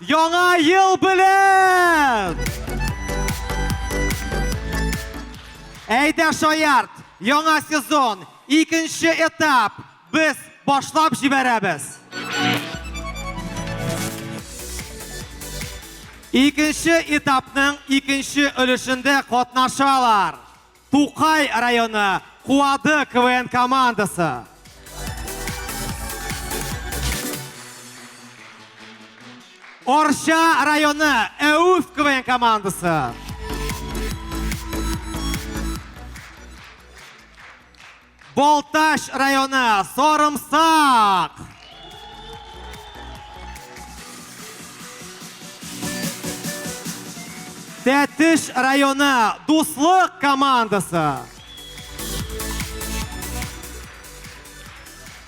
Яңа ел белән! Әйдә шаярт! Яңа сезон, икенче этап. Без башлап җибәрәбез. Икенче этапның икенче өлешендә катнашалар. Тукай районы Куады КВН командасы. Орча районы Әүф КВН командасы. Балтач районы Сарымсак! Тәтеш районы Дуслык командасы!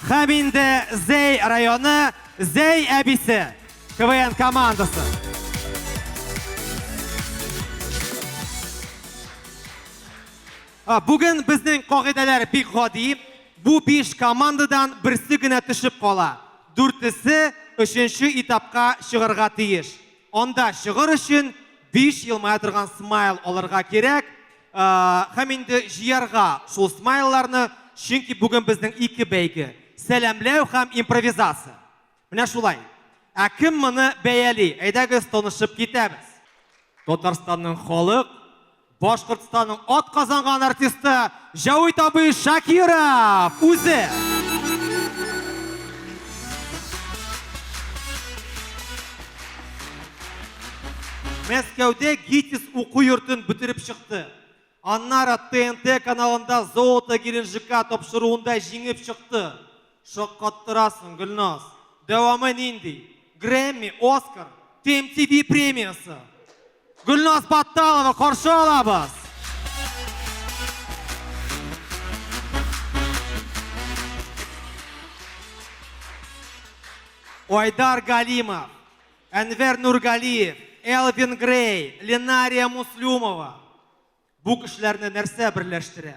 Һәм инде Зәй районы Зәй әбисе КВН командасы. Бүген безнең кагыйдәләр бик гади, бу биш командадан берсе генә төшеп кала, дүртесе өченче этапка чыгарга тиеш. Анда чыгыр өчен биш елмая торган смайл алырга кирәк һәм инде җыярга шул смайлларны, чөнки бүген безнең ике бәйге, сәламләү һәм импровизация. Менә шулай. Ә кем моны бәяли? Әйдәгез, танышып китәбез. Татарстанның халык, Башкортстанның ат казанган артисты Җәвит абый Шакиров үзе. Мәскәүдә ГИТИС уку йортын бетереп чыкты. Аннары ТНТ каналында Золото Геленджика тапшыруында җиңеп чыкты. Шаккаттырасың, Гөлназ! Дәвамы нинди? Грэмми, Оскар, TMTV премиясе! Гөлназ Батталова каршы алабыз! Айдар Галимов, Әнвәр Нургалиев, Элвин Грей, Ленария Муслюмова. Бу кешеләрне нәрсә берләштерә?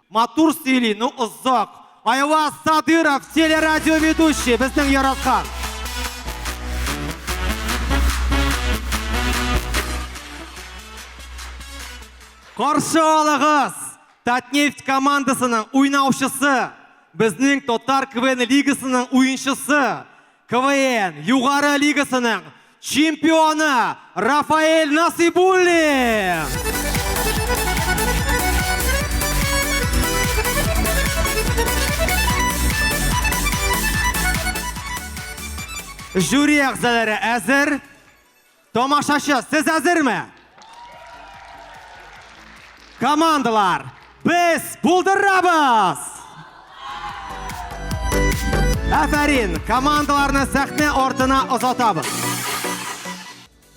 Матур сөйли, ну озак. Айваз Садыров, телерадиоведущий, безнең яраткан. Каршы алыгыз! Татнефть командасының уйнаучысы, безнең Татар КВН лигасының уенчысы, КВН Югары лигасының чемпионы Рафаэль Насыйбуллин! Жюри әгъзалары әзер. Тамашачы, сез әзерме? Командалар, без булдырабыз! Афәрин, командаларны сәхнә артына озатабыз.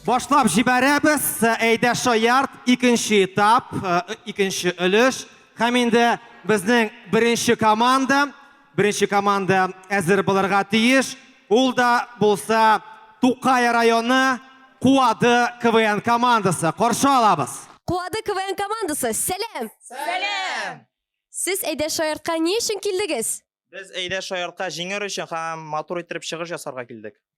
Башлап җибәрәбез, әйдә шаярт, икенче этап, икенче өлеш. Һәм инде безнең беренче команда Беренче команда әзер булырга тиеш. Ул да булса Тукай районы Куады КВН командасы. Каршы алабыз. Куады КВН командасы, сәлам! Сәлам! Сез әйдә шаяртка ни өчен килдегез? Без әйдә шаяртка җиңер өчен һәм матур иттереп чыгыш ясарга килдек.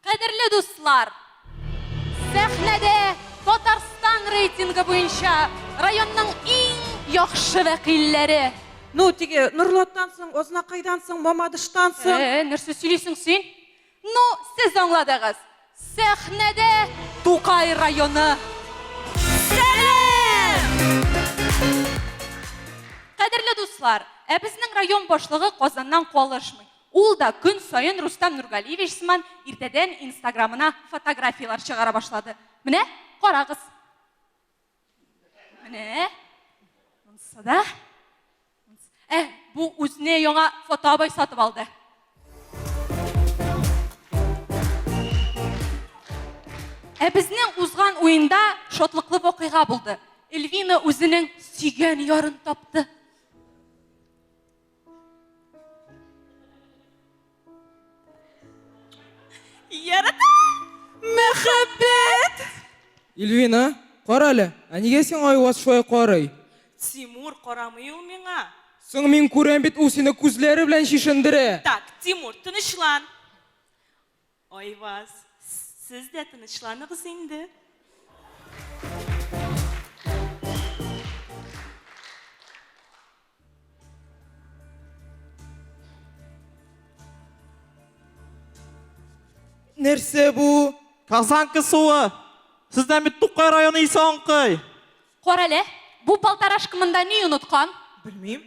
Кадерле дуслар! Сәхнәдә Татарстан рейтингы буенча районның иң яхшы вәкилләре! Ну, теге Норлаттан соң, Азнакайдан соң, Мамадыштан соң. Ә-ә, нәрсә сөйлисең син? Ну, сез аңладыгыз! Сәхнәдә Тукай районы! Сәлам! Кадерле дуслар! Ә безнең район башлыгы Казаннан калышмый. Ул да көн саен Рустам Нургалиевич сыман иртәдән инстаграмына фотографияләр чыгара башлады. Менә, карагыз. Менә. Монсы да. Ә, бу үзенә яңа фотоабай сатып алды. Ә безнең узган уенда шатлыклы вакыйга булды. Эльвина үзенең сөйгән ярын тапты. Ярата! Мәхәббәт! Ильвина, кара әле, ә нигә сиңа Айваз шулай карый? Тимур, карамый ул миңа. Соң мин күрәм бит, ул сине күзләре белән чишендерә. Так, Тимур, тынычлан. Айваз, сез дә тынычланыгыз инде. Нәрсә бу? Казанка суы. Сездән бит Тукай районы исе аңкый. Карале, бу полторашка монда ни оныткан? Белмим.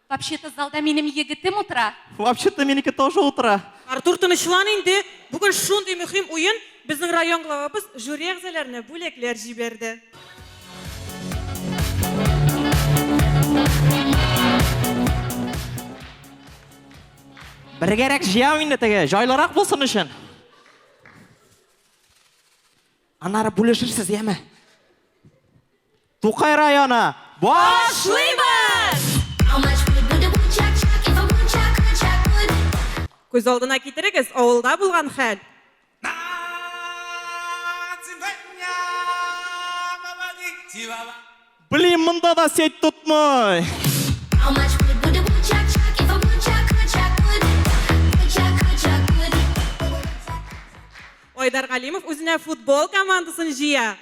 Вообще-то залда минем егетем утыра. Вообще-то минеке тоже утыра. Артур, тынычлан инде. Бүген шундый мөһим уен, безнең район главабыз жюри әгъзаларына бүләкләр җибәрде. Бергәрәк җыям инде теге, җайлырак булсын өчен. Аннары бүлешерсез, яме. Тукай районы, башлыйбыз! Күз алдына китерегез, авылда булган хәл. Блин, монда да сеть тотмый. Айдар Галимов үзенә футбол командасын җыя.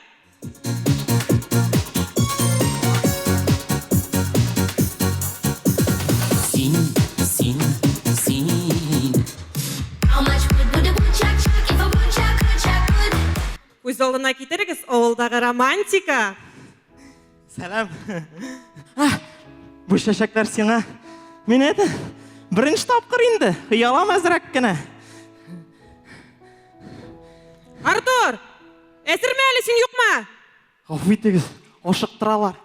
Күз алдына китерегез авылдагы романтика. Сәлам. Бу чәчәкләр сиңа. Мин әйтә, беренче тапкыр инде. Хыялам әзрәк кенә. Артур! Әзерме әле син юкмы? Гафу итегез, ашыктыралар.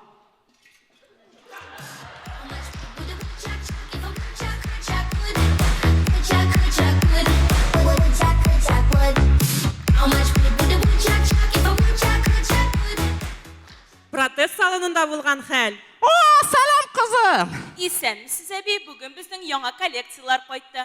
Протест салонында булган хәл. О, сәлам, кызым! Исәнмесез, әби. Бүген безнең яңа коллекцияләр кайтты.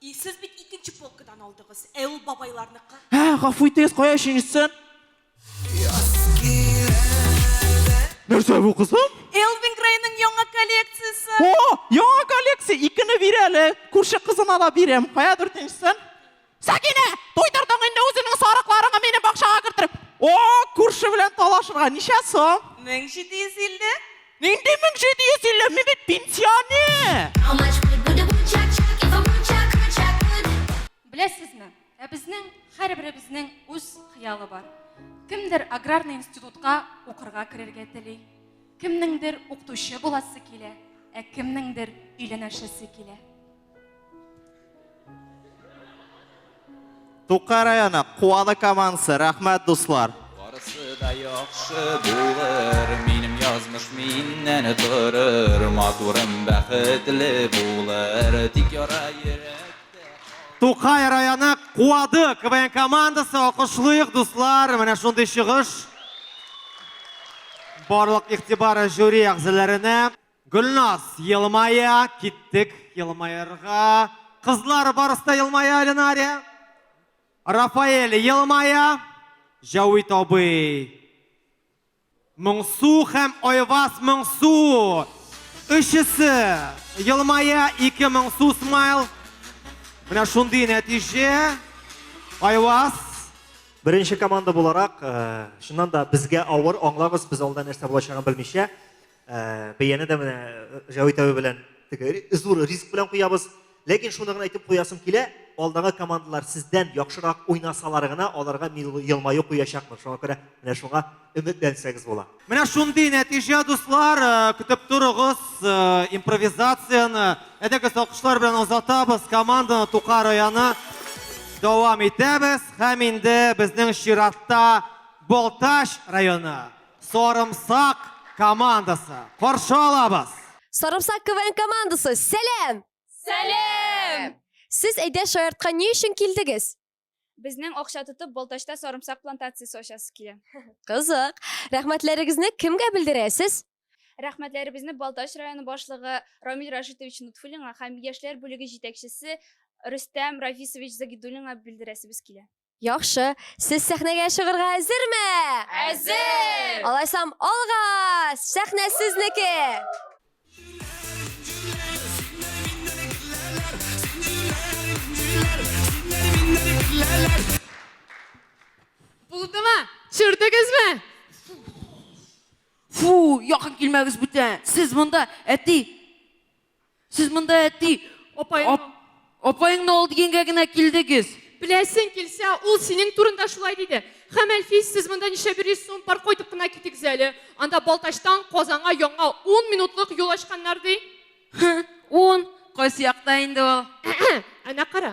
И, сез бит икенче полкадан алдыгыз, ә ул бабайларныкы. Һә, гафу итегез, кая өченчесе? Нәрсә бу кызым? Элвин Грейның яңа коллекциясе. О, яңа коллекция, икене бир әле. Күрше кызына да бирәм. Кая дүртенчесен? Сәкинә, туйдырдың инде үзеңнең сарыкларыңны минем бакчага кертеп. О, күрше белән талашырга ничә сум? 1750. Нинди 1750? Мин бит пенсионер! Беләсезме, ә безнең һәрберебезнең үз хыялы бар. Кемдер аграрный институтка укырга керергә тели, кемнеңдер укытучы буласы килә, ә кемнеңдер өйләнәшәсе килә. Тукай районы Куаны командасы, рәхмәт дуслар. Барысы да яхшы булыр, минем язмыш миннән торыр, матурым бәхетле булыр, тик яра йөрәктә. Тукай районы Куады КВН командасы, алкышлыйк дуслар, менә шундый чыгыш. Барлык игътибар жюри әгъзаларына. Гөлназ, елмая, киттек, елмаерга. Кызлар, барысы да елмая, Ленария. Рафаэль, елмая. Җәвит абый. Моңсу һәм Айвас Моңсу. Өчесе елмая, ике Моңсу смайл. Менә шундый нәтиҗә. Айвас. Беренче команда буларак, э, чыннан да безгә авыр, аңлагыз, без алда нәрсә булачагын белмичә. Э, бәяне дә менә э, Җәвит әби белән теге зур риск белән куябыз. Ләкин шуны гына әйтеп куясым килә, алдагы командалар сездән яхшырак уйнасалар гына, аларга мин елмаю куячакмын. Шуңа күрә менә шуңа өметләнсәгез була. Менә шундый нәтиҗә, дуслар, э, көтеп торыгыз импровизацияне. Әдәгез алкышлар белән озатабыз команданы Тука районы. Дәвам итәбез һәм инде безнең чиратта Болташ районы. Сарымсак командасы, каршы алабыз! Сарымсак КВН командасы, сәлам! Сәлам! Сез Әйдә Шаяртка ни өчен килдегез? Безнең акча тотып Балтачта сарымсак плантациясе ачасы килә. Кызык! Рәхмәтләрегезне кемгә белдерәсез? Рәхмәтләребезне Балтач районы башлыгы Рамил Рашитович Нутфуллинга һәм яшьләр бүлеге җитәкчесе Рөстәм Рафисович Загидуллинга белдерәсебез килә. Яхшы, сез сәхнәгә чыгырга әзерме? Әзер! Алайсам, алга! Сәхнә сезнеке! Булдымы? Чүрдегезме? Фу, якын килмәгез бүтән. Сез монда әти Сез монда әти, апаең... Апаеңны ал дигәнгә генә килдегез. Беләсең килсә, ул синең турында шулай диде. Хәм Әлфис, сез монда ничә бер йөз сум пар кайтып кына китегез әле. Анда Балтачтан Казанга яңа ун минутлык юл ачканнар ди. Ун, кайсы якта инде ул? Әнә кара,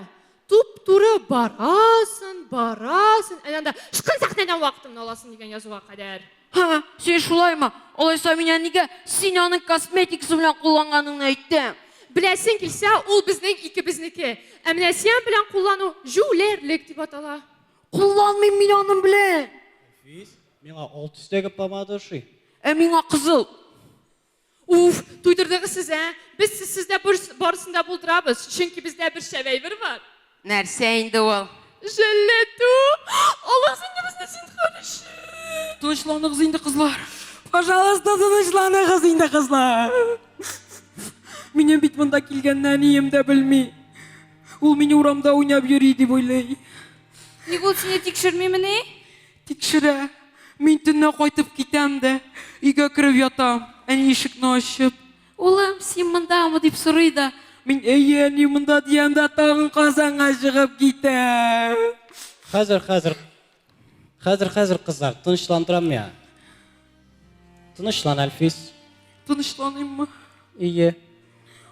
Туп-туры барасын, барасын, әнә анда шкын сәхнәдән вакытымны аласын дигән язуга кадәр. Ха, син шулаймы? Алайса мин әнигә син аның косметикасы белән кулланганыңны әйтәм. Беләсең килсә, ул безнең икебезнеке. Ә менә сиан белән куллану җүләрлек дип атала. Кулланмыйм мин аның белән. Физ, миңа ал төстәге помада ошый. Ә миңа кызыл. Уф, туйдырдыгыз сез, ә! Без сезсездә барысын да булдырабыз, чөнки бездә бер шәп әйбер бар. Нәрсә инде ул? Җәлләтү! Алыгыз инде безне зинһар өчен! Тынычланыгыз инде, кызлар! Пожалуйста, тынычланыгыз инде, кызлар! Минем бит монда килгәннән ием дә белми. Ул мине урамда уйнап йөри дип уйлый. Ник ул сине тикшермимени? Тикшерә. Мин төнлә кайтып китәм дә, өйгә кереп ятам. Әни ишекне ачып. Улым, син мондамы? дип сорый да. Мин, Әйе, әни, монда, диям дә тагын Казанга чыгып китәм. Хәзер, хәзер, хәзер, хәзер, кызлар, тынычландырам миңа. Тынычлан, Әлфис. Тынычланыйммы? Ие.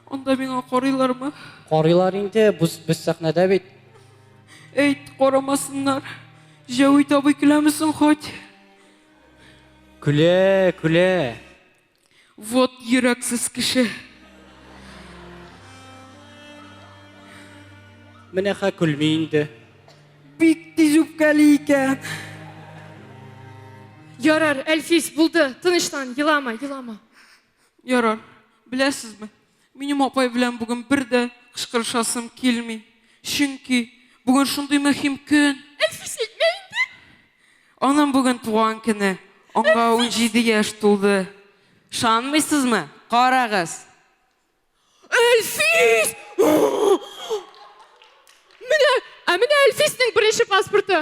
Анда миңа карыйлармы? Карыйлар инде, без, без сәхнәдә бит. Әйт, карамасыннар. Җәвит абый көләме соң хоть? Көлә, көлә. Вот йөрәксез кеше. Менә ха көлми инде. Бик тиз үпкәли икән. Ярар, Әлфис, булды, тынычлан, елама, елама. Ярар, беләсезме, Минем апай белән бүген бер дә кычкырышасым килми. Чөнки бүген шундый мөһим көн. Әлфис әйтмә инде. Аның бүген туган көне. Аңа 17 яшь тулды. Шанмыйсызмы? Карагыз. Әлфис! Менә, ә менә Әлфиснең беренче паспорты.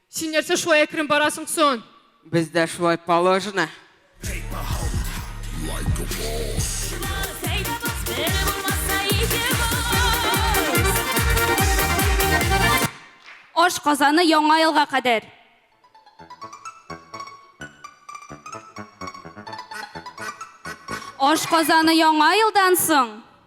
Син нәрсә шулай әкрен барасың сон? Бездә шулай положено. Аш казаны яңа елга кадәр. Аш казаны яңа елдан соң.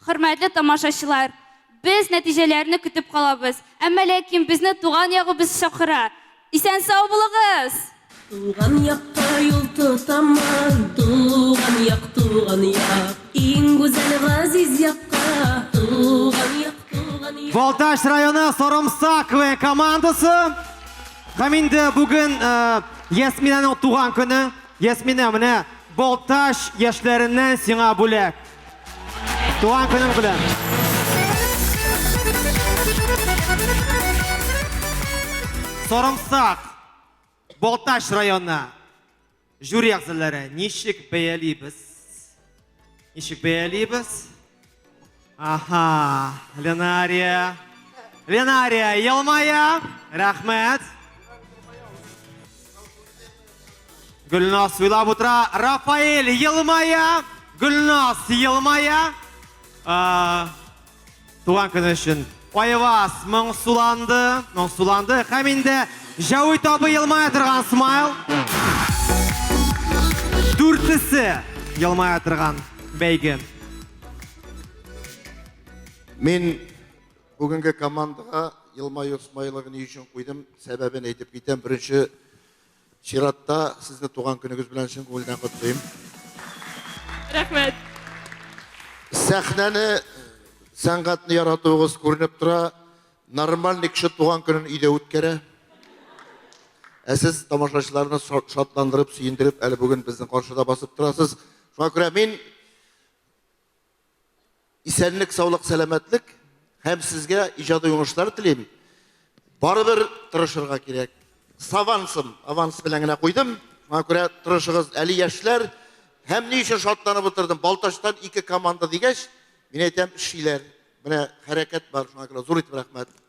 Хөрмәтле тамашачылар! Без нәтиҗәләрне көтеп калабыз, әмма ләкин безне туган ягыбыз чакыра! Исән-сау булыгыз! Туган якка юл тотамын, Туган як, туган як, Иң гүзәл, газиз якка, Туган як, туган як. Балтач районы Сорымсак ве командасы. Һәм инде бүген Ясминәнең туган көне. Ясминә, менә Балтач яшьләреннән сиңа бүләк. Туган көнең белән! Сарымсак, Балтач районы жюри әгъзалары ничек бәялибез? Ничек бәялибез? Аха, Ленария. Ленария елмая. Рәхмәт. Гөлназ уйлап утыра, Рафаэль елмая, Гөлназ елмая. Туган көне өчен Айваз моңсуланды, моңсуланды һәм инде Җәвит абый елмая торган смайл. Дүртесе елмая торган бәйге. Мин бүгенге командаға елмаю смайлыгын ни өчен куйдым, сәбәбен әйтеп китәм. Беренче Чиратта сезне туган көнегез белән чын күңелдән котлыйм. Рәхмәт. Сәхнәне, сәнгатьне яратуыгыз күренеп тора. Нормальный кеше туган көнен өйдә үткәрә. Ә сез тамашачыларны шатландырып, сөендереп, әле бүген безнең каршыда басып торасыз. Шуңа күрә мин Исәнлек, саулык, сәламәтлек һәм сезгә иҗади уңышлар телим. Барыбер тырышырга кирәк. Савансым, аванс белән генә куйдым. Моңа күрә тырышыгыз, әле яшьләр. Һәм ни өчен шатланып утырдым? Балтачтан ике команда дигәч, мин әйтәм, эшлиләр. Менә хәрәкәт бар, шуңа күрә зур итеп рәхмәт.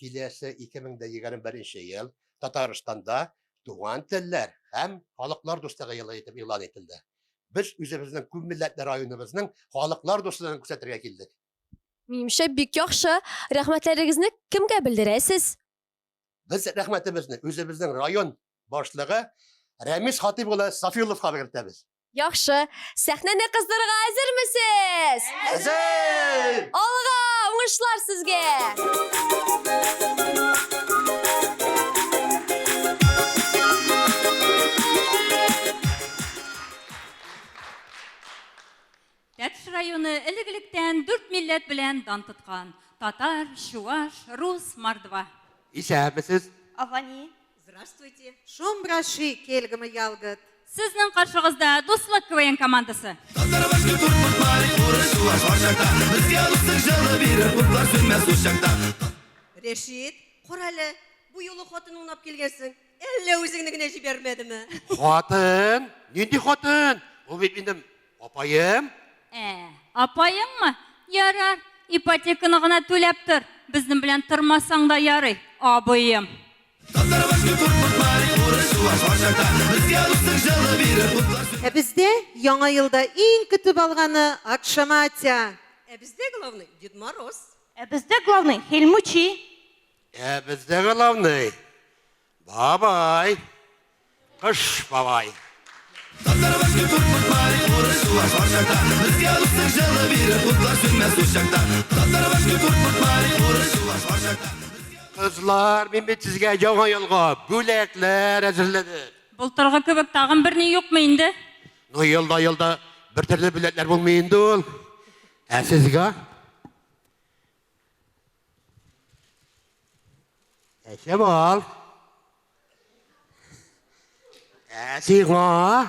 киләсе 2021 ел Татарстанда Туган телләр һәм халыклар дуслыгы елы итеп игълан ителде. Без үзебезнең күп милләтле районыбызның халыклар дуслыгын күрсәтергә килдек. Минемчә, бик яхшы. Рәхмәтләрегезне кемгә белдерәсез? Без рәхмәтебезне үзебезнең район башлыгы Рәмис Хатыйп улы Сафиулловка белдертәбез. Яхшы. Сәхнәне кыздырырга әзермесез? Әзер! Алга, уңышлар сезгә! Тәтеш районы элек-электән дүрт милләт белән дан тоткан. Татар, чуваш, рус, мордва. Исәнмесез! Ава ни? Здравствуйте! Шум браши, кельгымы ялгыт! Сезнең каршыгызда Дуслык КВН командасы! Рәшит, карале, бу юлы хатын унап килгәнсең, әллә үзеңне генә җибәрмәдеме? Хатын? Нинди хатын? Ул бит минем Апаем? Ә, апаеңмы? Ярар, ипотеканы гына түләп тор. Безнең белән тормасаң да ярый, абыем. Ә бездә Яңа елда иң көтеп алганы Акшаматя. Ә бездә главный Дед Мороз. Ә бездә главный Хельмучи. Ә бездә главный Бабай! Кыш бабай! Кызлар, мин бит сезгә яңа елга бүләкләр әзерләдем. Былтыргы кебек тагын берни юкмы инде? Ну, елда-елда бер төрле бүләкләр булмый инде ул. Ә сезгә Әйшә бал. Әсига.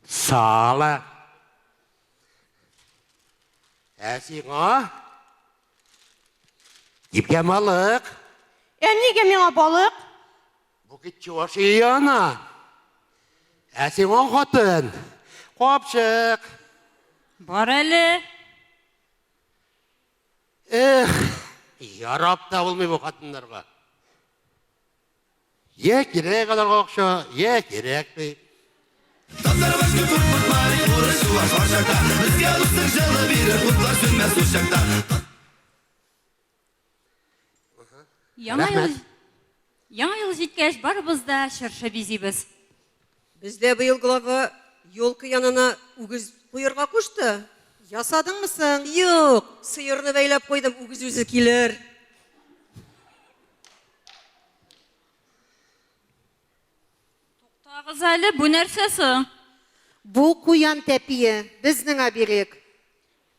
Сала. Әсига. Ипкә балык. Ә нигә миңа балык? Бу кит чуваш ие ана. Ә сиң он хатын. Капчык. Бар әле. Эх, ярап та булмый бу хатыннарга. Йә кирәк аларга акча, йә кирәкми. Татарбаш күп куркмай, урыс чуваш бар чакта. Безгә русның җылы бирер, утлар сүнмәс ул чакта. Яңа ел Яңа ел җиткәч, барыбыз да чыршы бизибез. Бездә быел глава елка янына үгез куерга кушты. Ясадыңмы соң? Юк, сыерны бәйләп куйдым, үгез үзе килер. Туктагыз әле, бу нәрсә соң? Бу куян тәпие, безнең оберег.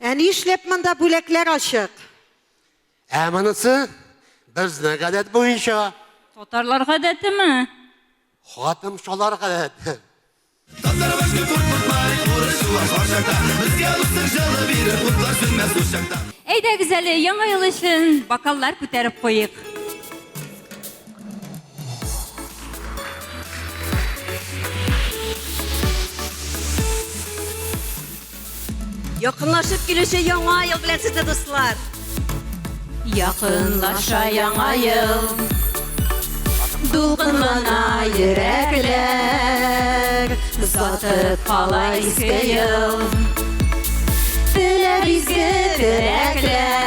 Ә ни эшләп монда бүләкләр ачык? Ә монысы безнең гадәт буенча. Татарлар гадәтеме? Хатым шалар гадәте. Татар башка куркытмай, урыс шулар шаршакта. Безгә дуслык җылы бирер, кутлар сүнмәс курчакта. Әйдәгез әле, яңа ел өчен бокаллар күтәреп куйыйк. Якынлашып килүче яңа ел белән сезне дуслар. Якынлаша яңа ел. Дулкынлана йөрәкләр. Озатып кала иске ел. Теләр изге теләкләр.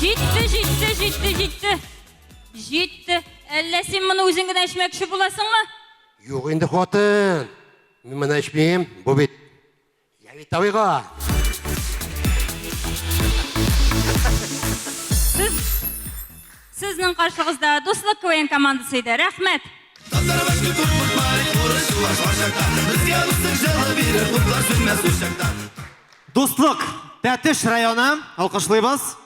Җитте, җитте, җитте, җитте. Җитте. Әллә син моны үзең генә эчмәкче буласыңмы? Юк инде хатын. Мин моны эчмим. Бу бит Явитовыйга. Сез Сезнең каршыгызда Дуслык КВН командасы иде. Рәхмәт. Татарбашка күп булмай, урысчылар шаршакта. Безгә дуслык җылы бирер, утлар сүнмәс ул чакта. Дуслык, Тәтеш районы, алкышлыйбыз.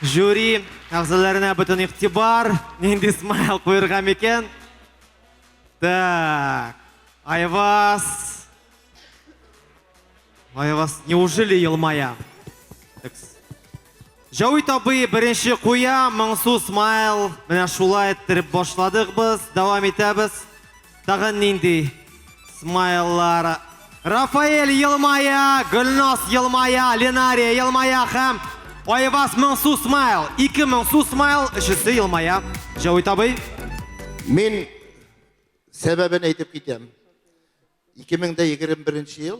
Жюри әгъзаларына бөтен игътибар, нинди смайл куерга микән? Так, Айвас. Айвас, неужели елмая? Җәвит абый беренче куя, моңсу смайл. Менә шулай иттереп башладык без, дәвам итәбез. Тагын нинди смайллар? Рафаэль елмая, Гөлназ елмая, Ленария елмая һәм Айваз моңсу смайл. Ике моңсу смайл, өчесе елмая. Җәвит абый. Мин сәбәбен әйтеп китәм. 2021 ел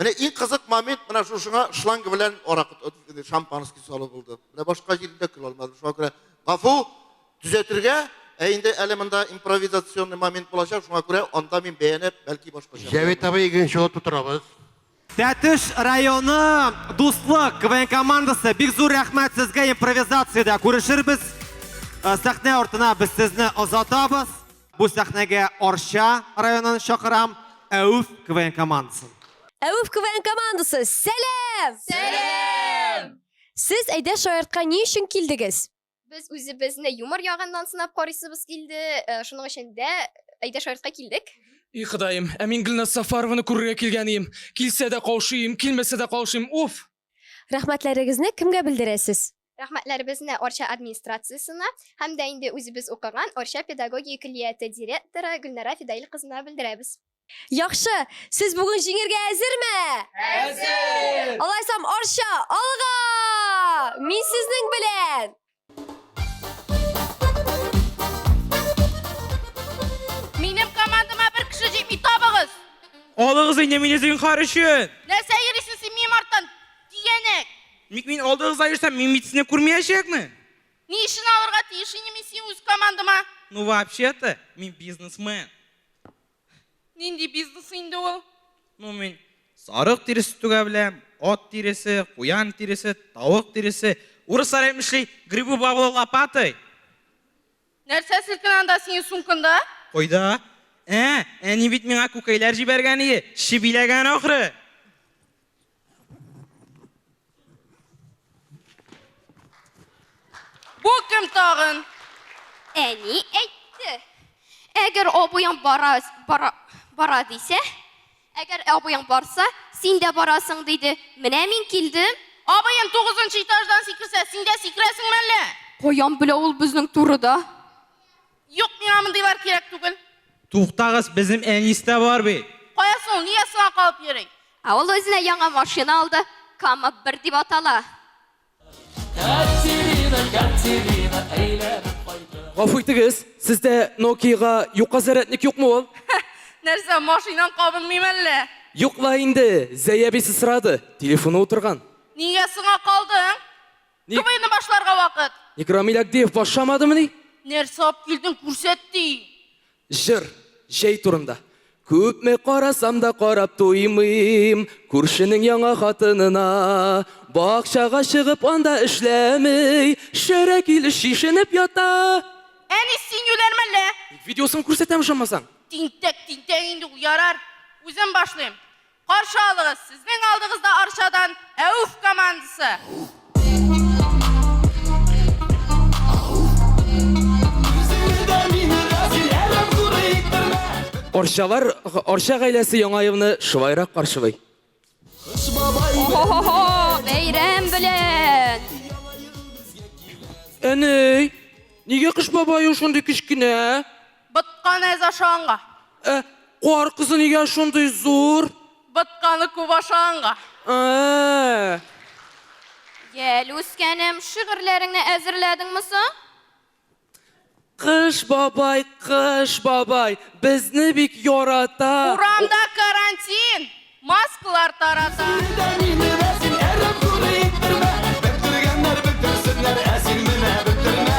Менә иң кызык момент менә шушыңа шланг белән аракы э, шампанский салу булды. Менә башка җирдә көл алмадым. Шуңа күрә гафу төзәтергә, ә инде әле монда импровизационный момент булачак. Шуңа күрә анда мин бәянеп, бәлки башкача. Җәвит абый икенче ут тутырабыз. Тәтеш районы Дуслык КВН командасы бик зур рәхмәт сезгә импровизациядә күрешербез. Э, сәхнә артына без сезне озатабыз. Бу сәхнәгә Арча районын чакырам, Әүф КВН командасын. Әүф КВН командасы, сәлам! Сәлам! Сез әйдә шаяртка ни өчен килдегез? Без үзебезне юмор ягыннан сынап карыйсыбыз килде, э, шуның өчен дә әйдә шаяртка килдек. И Ходаем, ә мин Гөлназ Сафарованы күрергә килгән ием. Килсә дә каушый ием, килмәсә дә каушыйм. Уф! Рәхмәтләрегезне кемгә белдерәсез? Рәхмәтләребезне Арча администрациясенә һәм дә инде үзебез укыган Арча педагогия көллияте директоры Гөлнара Фидаил кызына белдерәбез. Яхшы! Сез бүген җиңергә әзерме? Әзер! Алайсам, Арча, алга! Мин сезнең белән! Минем командама бер кеше җитми, табыгыз! Алыгыз инде мине зинһар өчен! Нәрсә йөрисең син минем арттан, тигәнәк? Ник мин алдыгызда йөрсәм, мин бит сезне күрмиячәкме? Ни өчен алырга тиеш инде мин сине үз командама? Ну вообще-то, мин бизнесмен. Нинди бизнес инде ул? Ну мин сарык тиресе түгә беләм, ат тиресе, куян тиресе, тавык тиресе. Урыслар әйтмешли, грибы бавлы лопатой. Нәрсә селкенә анда синең сумкында? Кайда? Ә, әни бит миңа күкәйләр җибәргән иде, чебиләгән ахры. Бу кем тагын? Әни әйтте. Әгәр абыяң бара, бара, бара дисә, әгәр абыяң барса, син дә барасың диде. Менә мин килдем. Абыем тугызынчы этаждан сикерсә, син дә сикерәсеңме әллә? Каян белә ул безнең турыда? Юк, миңа мондыйлар кирәк түгел. Туктагыз, безнем Әнис тә бар бит. Кая соң ул, нигә сиңа калып йөри? Ә ул үзенә яңа машина алды, Кама бер дип атала. Катерина, Катерина, әйләнеп кайта. Гафу итегез, сездә Нокиягә юка зарядник юкмы ул? Нәрсә, машинам кабынмыймы әллә? Юк ла инде, Зәй әбисе сорады, телефоны утырган. Нигә сиңа калдың? Ник? КВНны башларга вакыт. Ник Рамил Агдиев башламадымыни? Нәрсә алып килдең, күрсәт ди. Җыр, җәй турында. Күпме карасам да карап туймыйм Күршенең яңа хатынына Бакчага чыгып анда эшләмей Шәрә килеш шешенеп ята Әни, син юләрме әллә? Ник видеосын күрсәтәм ошамасаң? Тинтәк, тинтәк инде ул, ярар. Үзем башлыйм. Каршы алыгыз, сезнең алдыгызда Арчадан Әүф командасы! Арчалар, Арча гаиләсе яңа елны шулайрак каршылый. Кыш бабай Охо-хо-хо, бәйрәм белән! Әней, нигә кыш бабай ул шундый кечкенә? Ботканы әз ашаганга. Ә кар кызы нигә шундый зур? Ботканы күп ашаганга. Ә-ә-ә. Гел үскәнем, шигырьләреңне әзерләдеңме соң? Кыш бабай, Кыш бабай, безне бик ярата. Урамда карантин, маскалар тарата. Син дә мине дә син әрәм күрә иттермә. Бөктергәннәр бөктерсеннәр, ә син менә бөктермә.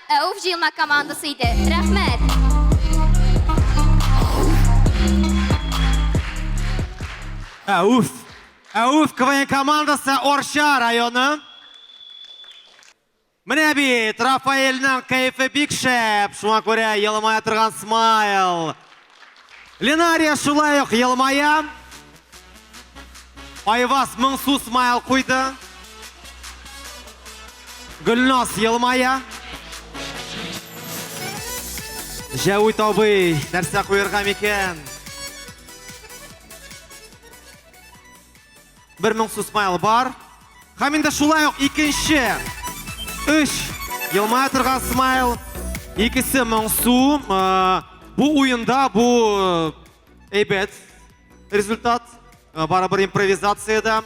Әуф җыелма командасы иде. Рәхмәт! Әуф! Әуф КВН командасы Орча районы. Менә бит, Рафаэльның кәефе бик шәп, шуңа күрә елмая торган смайл. Ленария шулай ук елмая. Айваз моңсу смайл куйды. Гөлназ елмая. Җәвит абый, нәрсә куерга микән? Бер моң сусмайл бар. Хәм инде шулай ук икенче. Өш. Елмая торган смайл. Икесе моңсу. Бу уенда бу әйбәт результат. Барабыр импровизацияда.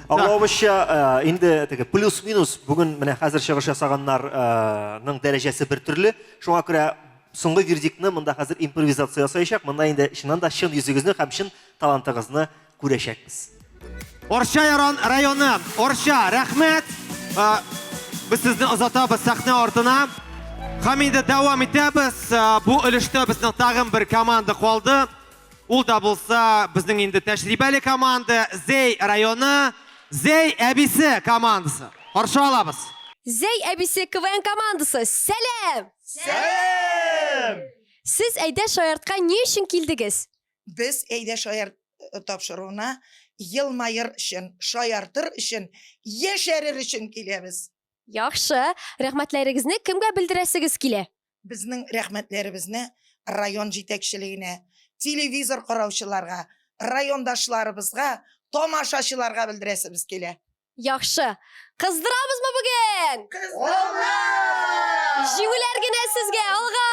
Аңлавымызча, инде теге плюс-минус бүген менә хәзер чыгыш ясаганнарның дәрәҗәсе бер төрле. Шуңа күрә соңгы вердиктны монда хәзер импровизация ясаячак. Монда инде чыннан да чын йөзегезне һәм чын талантыгызны күрәчәкбез. Арча яран районы, Арча, рәхмәт! Без сезне озатабыз сәхнә артына. Һәм инде дәвам итәбез. Бу өлештә безнең тагын бер команда калды. Ул да булса безнең инде тәҗрибәле команда, Зәй районы, Зәй әбисе командасы. Каршы алабыз. Зәй әбисе КВН командасы, сәлам! Сәлам! Сез әйдә шаяртка ни өчен килдегез? Без Әйдә шаярт э, тапшыруына елмаер өчен, шаяртыр өчен, яшәрер өчен киләбез. Яхшы, рәхмәтләрегезне кемгә белдерәсегез килә? Безнең рәхмәтләребезне район җитәкчелегенә, телевизор караучыларга, райондашларыбызга, тамашачыларга белдерәсебез килә. Яхшы. Кыздырамызмы бүген? Кыздырабыз! Җиңүләр генә сезгә, алга!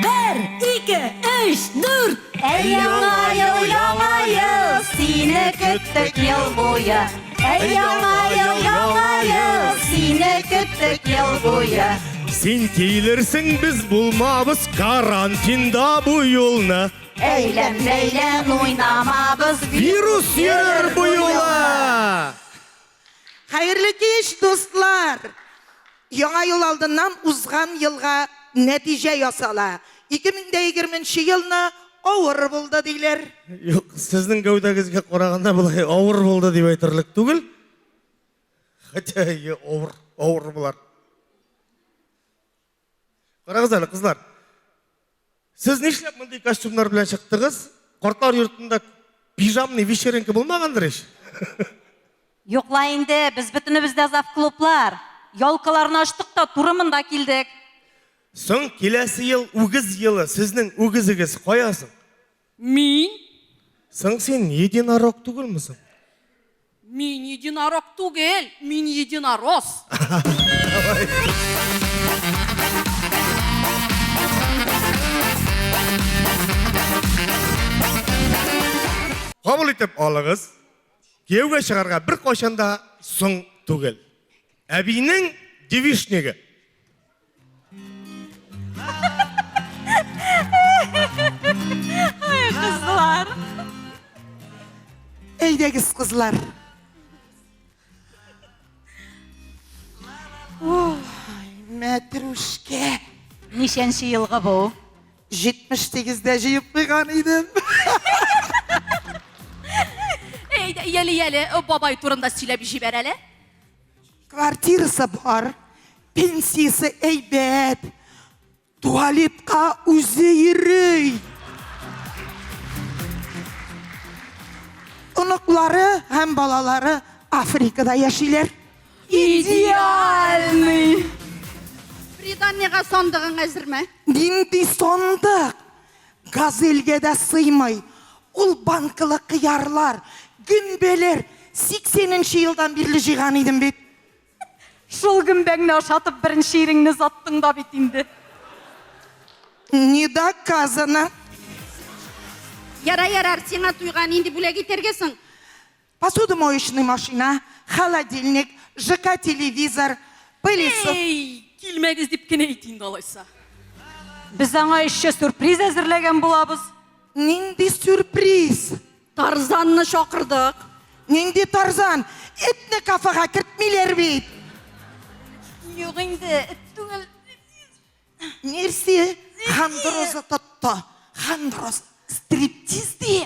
Бер, ике, өч, дүрт! Әй, яңа ел, яңа ел, сине көттек ел буе. Әй яңа ел, яңа ел, сине көттек ел буе. Син килерсең, без булмабыз карантинда бу юлны. Әйлән, бәйлән, уйнамабыз, вирус йөрер бу юлы. Хәерле кич, дуслар! Яңа ел алдыннан узган елга нәтиҗә ясала. 2020 нче елны авыр булды диләр. Юк, сезнең гәүдәгезгә караганда болай авыр булды дип әйтерлек түгел. Хотя әйе, авыр, авыр болар. Карагыз әле, кызлар. Сез нишләп мондый костюмнар белән чыктыгыз? Картлар йортында пижамный вечеринка булмагандыр ич? Юк ла инде, без бөтенебез дә завклублар. Ялкаларны ачтык та туры монда килдек. Соң киләсе ел үгез елы, сезнең үгезегез кая соң? Мин? Соң син единорог түгелме соң? Мин единорог түгел, мин единорос! Кабул итеп алыгыз. Кияүгә чыгарга бер кайчан да соң түгел. Әбинең девичнигы. Ай, кызлар. Әйдәгез, кызлар. Ой, мәтрүшкә. Ничәнче елгы бу? 78-дә җыеп куйган идем. Әйдә, яле-яле, бабай турында сөйләп җибәр әле. Квартирасы бар, пенсиясе әйбәт, туалетка үзе йөри. Оныклары һәм балалары Африкада яшиләр. Идеальный! Приданияга сандыгың әзерме? Нинди сандык? Газельгә дә сыймый ул банкалы кыярлар, гөмбәләр, сиксәненче елдан бирле җыйган идем бит. Шул гөмбәңне ашатып беренче иреңне озаттың да бит инде. Не доказано. Ярар, ярар, сиңа туйга нинди бүләк итәргә соң? Посуду моечный машина, холодильник, ЖК телевизор, пылесос. Эй, килмәгез дип кенә әйт инде алайса. Без аңа эшче сюрприз әзерләгән булабыз. Нинди сюрприз? Тарзанны чакырдык. Нинди Тарзан? Этне кафега кертмиләр бит. Юк инде, эт түгел. Нерсе? Хандроза тотты. Хандроз. Стриптиз ди.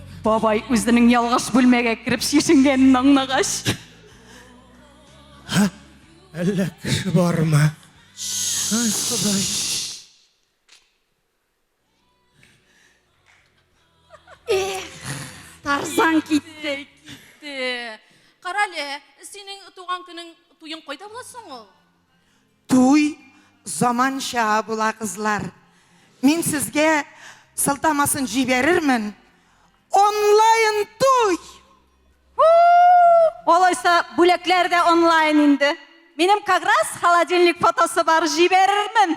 Бабай үзенең ялгыш бүлмәгә кереп чишенгәнен аңлагач. Әллә кеше бармы? Ай, Ходай. Тарзан китте. Китте. Карале, синең туган көнең туең кайда була соң ул? Туй заманча була кызлар. Мин сезгә сылтамасын җибәрермен. Онлайн туй! Алайса, бүләкләр дә онлайн инде. Минем как раз холодильник фотосы бар, җибәрермен.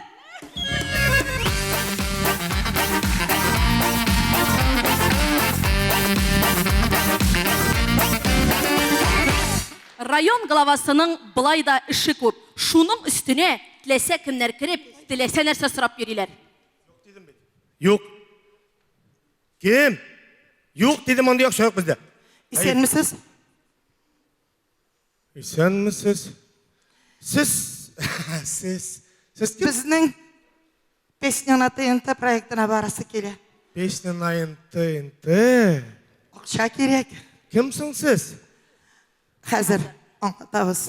Район главасының былай да эше күп. Шуның өстенә теләсә кемнәр кереп, теләсә нәрсә сорап йөриләр. Юк дидем бит. Юк. Кем? Юк дидем, мондый акча юк бездә. Исәнмесез. Исәнмесез. Сез сез сез кем? Безнең песня на ТНТ проектына барасы килә. Песня на ТНТ. Акча кирәк. Кем соң сез? Хәзер аңлатабыз.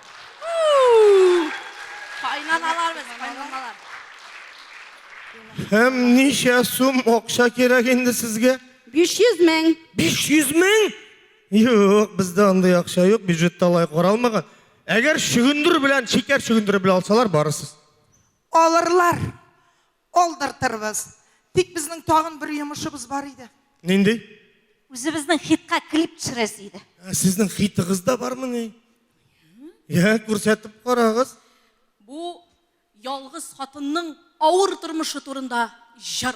Кайнаналарбыз, кайнаналар. Һәм ничә сум акча кирәк инде сезгә? 500 мең. 500 мең? Юк, бездә андый акча юк, бюджетта алай каралмаган. Әгәр чөгендер белән, шикәр чөгендере белән алсалар, барырсыз. Алырлар. Калдыртырбыз. Тик безнең тагын бер йомышыбыз бар иде. Нинди? Үзебезнең хитка клип төшерәсе иде. Ә сезнең хитыгыз да бармы ни? Я, күрсәтеп карагыз. Бу ялгыз хатынның авыр тормышы турында җыр.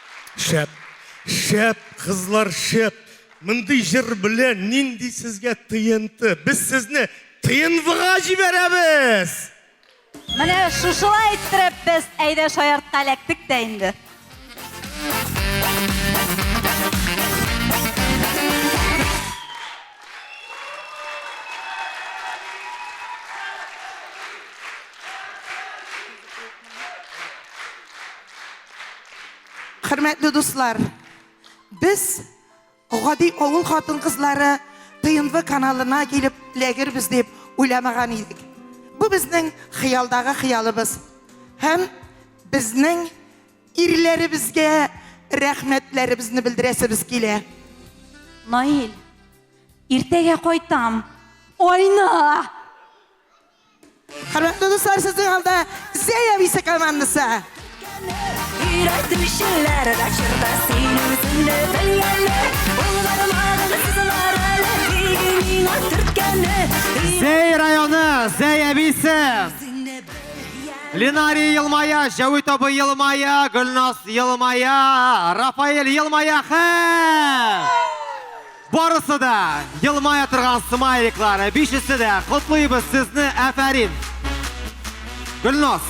Шәп. Шәп, кызлар, шәп. Мондый җыр белән нинди сезгә ТНТ? Без сезне ТНВга җибәрәбез! Менә шушылай иттереп без әйдә шаяртка эләктек тә инде. Хөрмәтле дуслар, без гади авыл хатын-кызлары ТНВ каналына килеп эләгербез дип уйламаган идек. Бу безнең хыялдагы хыялыбыз. Һәм безнең ирләребезгә рәхмәтләребезне белдерәсебез килә. Наил, иртәгә кайтам. Айна! Хөрмәтле дуслар, сезнең алда Зәя Висе командасы. Өйрәтүчеләр дә чорда син үзеңне белгәне, булгармагын кызлар әле, иге миңа төрткәне. Зәй районы, Зәй әбисе. Ленарий елмая, Җәвит абый елмая, Гөлназ елмая, Рафаэль елмая, хә! Барысы да елмая торган смайликлар, бишесе дә. Котлыйбыз сезне, әфәрин. Гөлназ.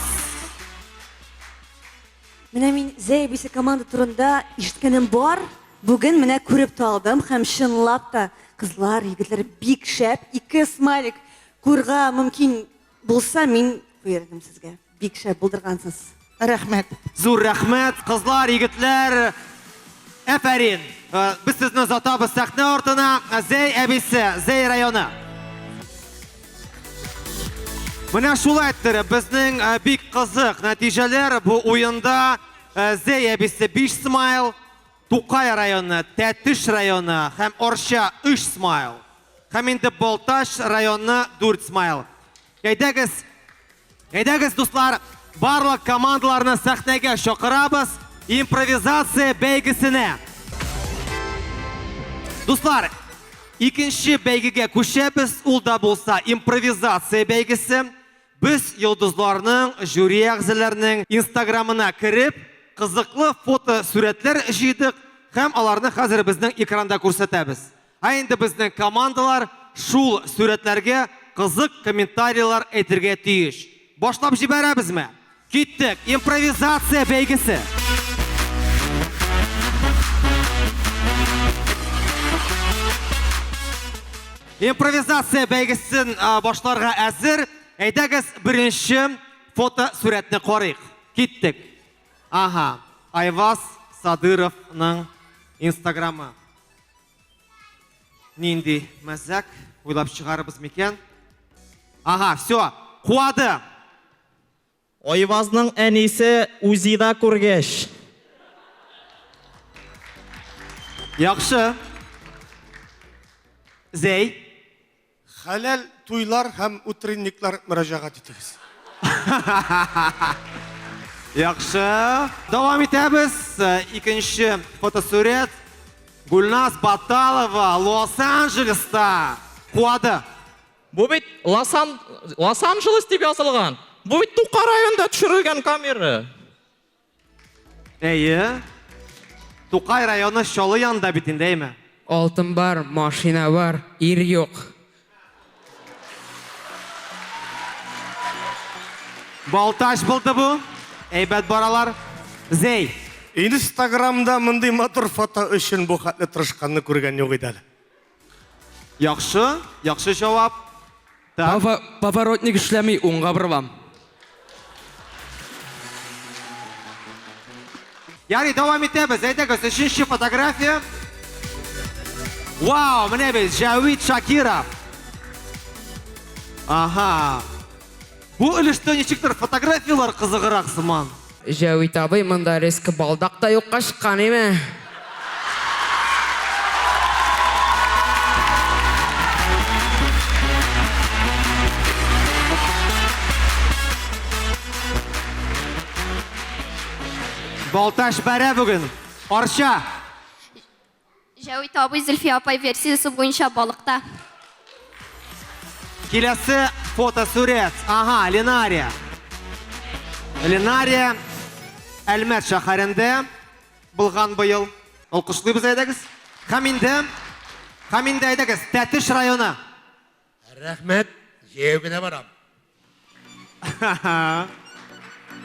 Менә мин Зәй әбисе команда турында ишеткәнем бар. Бүген менә күреп тә алдым һәм чынлап та кызлар, егетләр бик шәп. Ике смайлик күрга мөмкин Булса мин куердым сезгә. Бик шәп булдыргансыз. Рәхмәт. Зур рәхмәт, кызлар, егетләр. Әфәрин. Э, без сезне озатабыз сәхнә артына. Зәй әбисе, Зәй районы. Менә шулай иттереп, безнең э, бик кызык нәтиҗәләр бу уенда. Э, Зәй әбисе 5 смайл, Тукай районы, Тәтеш районы һәм Арча, өч смайл. Һәм инде Балтач районы, дүрт смайл. Әйдәгез, әйдәгез, дуслар, барлык командаларны сәхнәгә чакырабыз импровизация бәйгесенә. Дуслар, икенче бәйгегә күчәбез, ул да булса импровизация бәйгесе. Без йолдызларның, жюри әгъзаларының инстаграмына кереп, кызыклы фотосурәтләр җыйдык һәм аларны хәзер безнең экранда күрсәтәбез. Ә инде безнең командалар шул сурәтләргә кызык комментарийлар әйтергә тиеш. Башлап җибәрәбезме? Киттек! Импровизация бәйгесе! Импровизация бәйгесен башларга әзер. Әйдәгез, беренче фото сурәтне карыйк. Киттек. Ага, Айваз Садыровның инстаграмы. Нинди мәзәк, уйлап чыгарыбыз микән? Ага, все, куады. Айвазның әнисе Үзида күргәч. Яхшы. Зәй. Хәләл туйлар һәм утренниклар мөрәҗәгать итегез. Яхшы. Дәвам итәбез. Икенче фотосурәт. Гульназ Баталова Лос-Анджелеста куады. Бу бит Лосан, Лос-Анджелес дип язылган. Бу бит Тука районында төшерелгән камера. Әйе. Тукай районы Чалы янында бит инде, әйме? Алтын бар, машина бар, ир юк. Балтач булды бу. Әйбәт баралар. Зей. Инстаграмда мондый матур фото өчен бу хәтле тырышканны күргән юк иде әле. Яхшы, яхшы җавап. Так. Пова- Поворотник эшләми, уңга борылам. Ярый, дәвам итәбез. Әйдәгез, өченче фотография. Вау, менә бит Җәвит Шакиров. Ага. Бу өлештә ничектер фотографияләр кызыграк сыман. Җәвит абый, монда резко балдак та юкка чыккан име? Балтач бәрә бүген. Арча! Җәвит абый, Зөлфия апай версиясе буенча балыкта. Киләсе фотосурәт. Ага, Ленария. Ленария Әлмәт шәһәрендә булган быел. Алкышлыйбыз, әйдәгез. Һәм инде, һәм инде әйдәгез, Тәтеш районы. Рәхмәт, җәяү генә барам.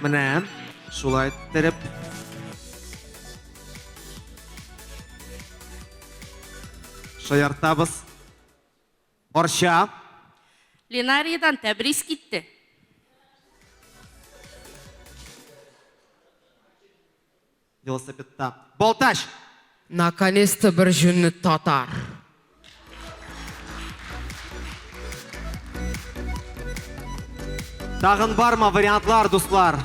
Менә шулай иттереп. Шаяртабыз. Борча. Ленаридан тәбрис китте. Велосипедта. Балтач! Наконец-то бер җүнле татар! Тагын барма вариантлар, дуслар?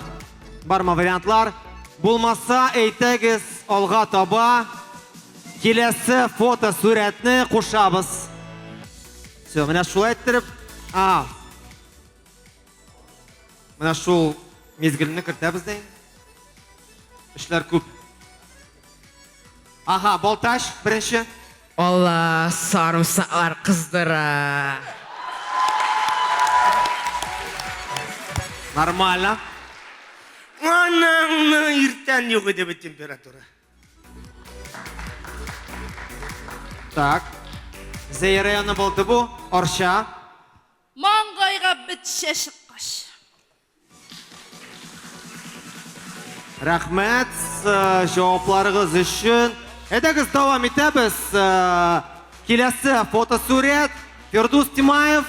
Барма вариантлар? Булмаса, әйтәгез, алга таба киләсе фото сурәтне кушабыз. Все, менә шулай иттереп. А, Менә шул мизгелне кертәбез дә инде. Эшләр күп. Ага, Балтач беренче. Алла, сарымсаклар кыздыра. Нормально. Анаңны иртән юк иде бит температура. Так. Зәй районы булды бу. Арча. Маңгайга бетчә чыккач. Рәхмәт җавапларыгыз өчен. Әйдәгез дәвам итәбез. Киләсе фотосурәт Фирдус Тимаев.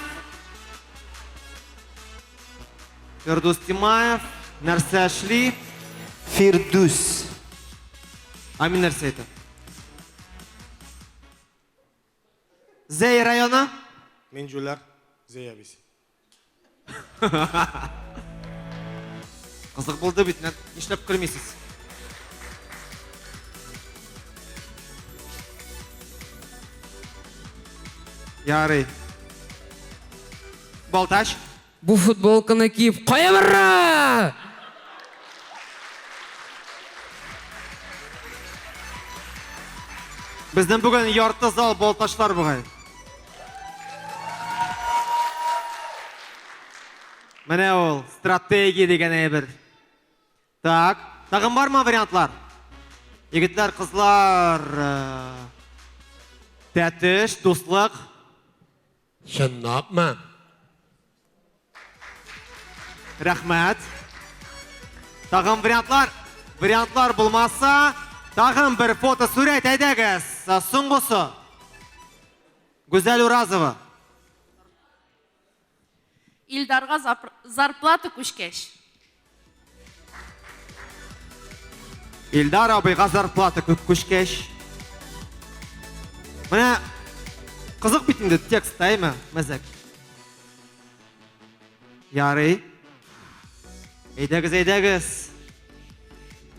Фирдус Тимаев нәрсә эшли? Фирдус. Амин нәрсә әйтә? Зәй районы? Мин җүләр, Зәй әбис. Кызык булды бит, нишләп көлмисез? Ярый. Балтач? Бу футболканы киеп кая барырга? Безнең бүген ярты зал балтачлар бугай. Менә ул стратегия дигән әйбер. Так, тагын бармы вариантлар? Егетләр, кызлар, э, тәтеш, дуслык. Чынлапмы? Рәхмәт. Тагын вариантлар? Вариантлар булмаса, тагын бер фото сурәт әйдәгез. Соңгысы. Гүзәл Уразова. Илдарга зарплата күчкәч. Илдар абыйга зарплата күп күчкәч. Менә кызык бит инде текст, әйме, мәзәк. Ярый. Әйдәгез, әйдәгез.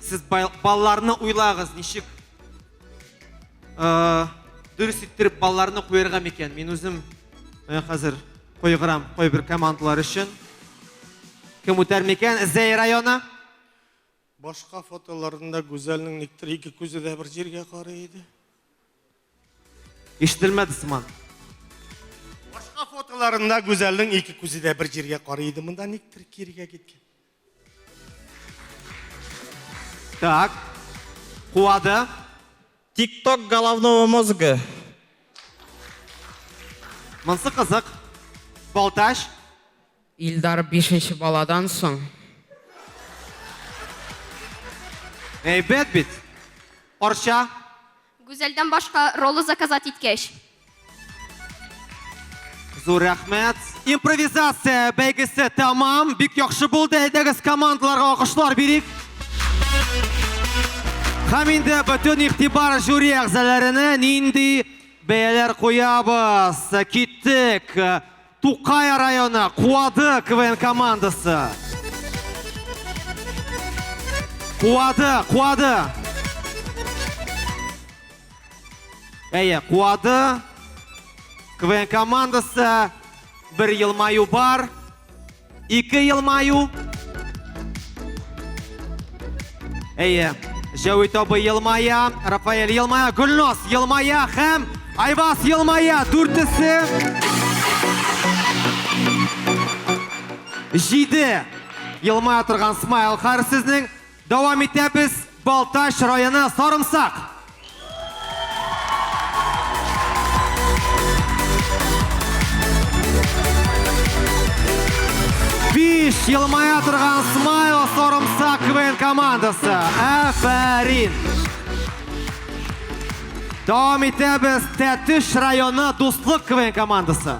Сез балаларны уйлагыз, ничек э, дөрес иттереп балаларны куярга микән? Мин үзем э, хәзер Кайгырам, кайбер командалар өчен. Кем үтәр микән? Зәй районы. Башка фотоларында Гүзәлнең никтер ике күзе дә бер җиргә карый иде. Ишетелмәде сыман. Башка фотоларында Гүзәлнең ике күзе дә бер җиргә карый иде. Монда никтер кирегә киткән. Так. Куады. Тикток головного мозга. Монсы кызык. Балташ. Илдар бишенче баладан соң. Әйбәт бит. Арча. Гүзәлдән башка ролы заказать иткәч. Зур рәхмәт! Импровизация бәйгесе тәмам, бик яхшы булды, әйдәгез командаларга алкышлар бирик. Һәм инде бөтен игътибар жюри әгъзаларына, нинди бәяләр куябыз? Киттек! Тукай районы Куады КВН командасы. Куады, Куады. Әйе, Куады КВН командасы бер елмаю бар. Ике елмаю. Әйе, Җәвит абы елмая, Рафаэль елмая, Гүлнос елмая һәм Айвас елмая. Дүртесе. Җиде. Елмая торган смайл хар сезнең. Дәвам итәбез, Балтач районы Сарымсак. Биш елмая торган смайл Сарымсак КВН командасы. Әфәрин! Дәвам итәбез, Тәтеш районы Дуслык КВН командасы.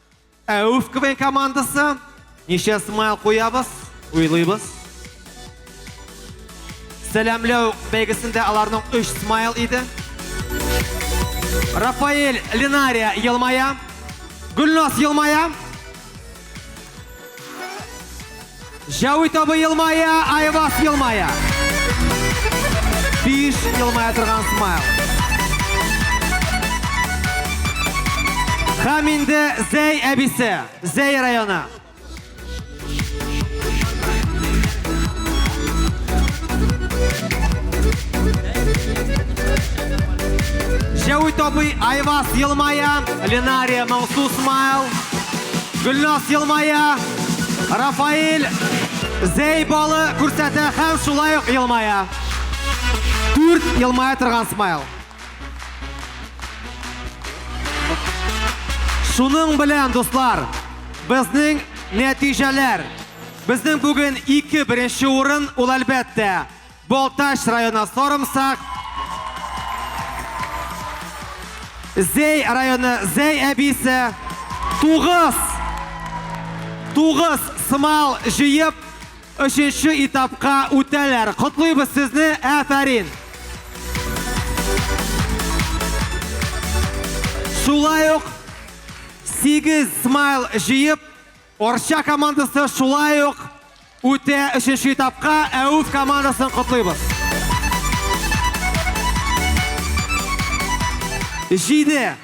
Ә Үфквей командасы ничә смайл куябыз, уйлыйбыз. Сәләмләү бәйгесендә аларның 3 смайл иде. Рафаэль Линария елмая. Гүлназ елмая. Җәвит абый елмая, Айвас елмая. Биш елмая торган смайл. Һәм инде Зәй әбисе, Зәй районы. Җәвит абый, Айвас елмая, Ленария Мансу смайл. Гөлнас елмая. Рафаэль зәй балы күрсәтә һәм шулай ук елмая. Дүрт елмая торган смайл. Шуның белән, дуслар, безнең нәтиҗәләр. Безнең бүген ике беренче урын, ул әлбәттә, Балтач районы Сорымсак. Зәй районы Зәй әбисе. Тугыз. Тугыз сымал җыеп, өченче этапка үтәләр. Котлыйбыз сезне, әфәрин! Шулай ук 8 смайл җыеп, Арча командасы шулай ук үтә өченче этапка, ә Уф командасын котлыйбыз. Җиде,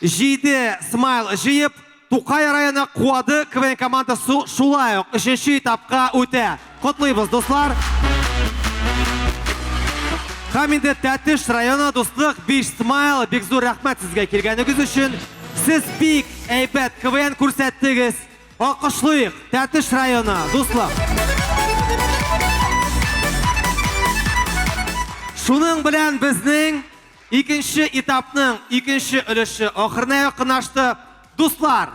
җиде смайл җыеп, Тукай районы Куады КВН командасы шулай ук өченче этапка үтә. Котлыйбыз, дуслар! Һәм инде Тәтеш районы дуслык Биш Смайл бик зур рәхмәт сезгә килгәнегез өчен. Сез бик әйбәт КВН күрсәттегез. Алкышлыйк, Тәтеш районы, дуслык. Шуның белән безнең икенче этапның икенче өлеше ахырына якынлашты. Дуслар!